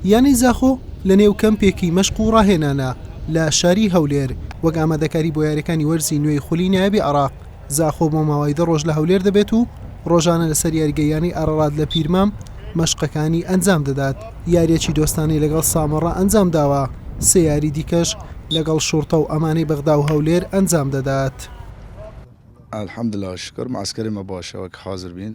یانەی زاخۆ لە نێو کەمپێکی مەشق و ڕاهێنانە لە شاری هەولێر وەک ئامادەکاری بۆ یاریەکانی وەرزی نوێی خولی نایابی عراق زاخۆ بۆ ماوەی دە ڕۆژ لە هەولێر دەبێت و ڕۆژانە لەسەر یاریگە یانەی ئارەڵات لە پیرمام مەشقەکانی ئەنجام دەدات یاریەکی دۆستانەی لەگەڵ سامەڕە ئەنجام داوە سێ یاری دیکەش لەگەڵ شوڕتە و ئەمانەی بەغدا و هەولێر ئەنجام دەدات. الحمدللە شوکر معسکەری مە باشە وەک حازر بین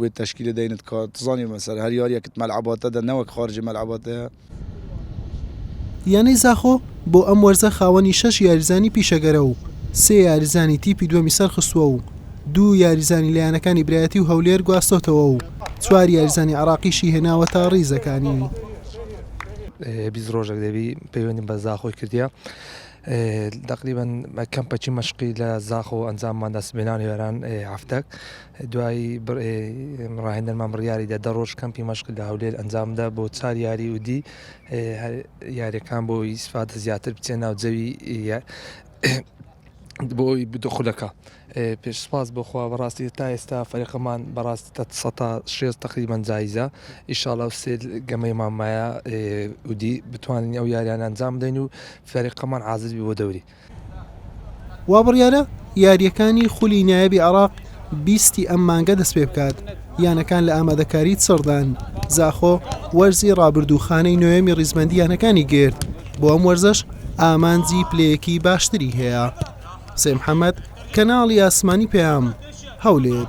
وێ تەشکیلە دەینت کار تزانی مەسەر هەر یاریەکت مەلعباتە دە نەوەک خارجی مەلعباتە. یانەی زاخۆ بۆ ئەم وەرزە خاوەنی شەش یاریزانی پیشەگەرە و سێ یاریزانی تیپی دووەمی سەرخستووە و دوو یاریزانی لە یانەکانی برایەتی و هەولێر گواستۆتەوە و چوار یاریزانی عێراقیشی هێناوەتە ڕیزەکانی. بیست ڕۆژەک دەبی پەیوەندیم بە زاخۆی کردیە. دەقریبەن کەمپەچی مەشقی لە زاخ و ئەنجامماندا سبێنان وێران هەفتەک دوای ڕاهێنەرمان بڕیاریدا دە ڕۆژ کەمپی مەشقی لە هەولێر ئەنجامدا بۆ چار یاری و دی یاریەکان بۆ ئیسفادە زیاتر بچێ ناو جەوی بۆی بدو خولەکە پێش سپاس بۆ خوا بەڕاستی تا ئێستا فەرقەمان بەڕاست تە سەتا شێست تقریبەن جایزە ئیشاڵا و سێ گەمەی مامایە ودی بتوانین ئەو یاریان ئەنجام بدەین و فەرقەمان عازز بۆ دەوری. وابڕیارە یارییەکانی خولی نایابی عێراق بیست ی ئەم مانگە دەستپێبکات، یانەکان لە ئامادەکاری چڕدان، زاخۆ وەرزی رابردوو خانەی نۆیەمی ریزبەندی یانەکانی گرت، بۆ ئەم وەرزەش ئامانجی پلەیەکی باشتری هەیە. حسێن محەمەد، کەناڵی ئاسمانی پەیام، هەولێر.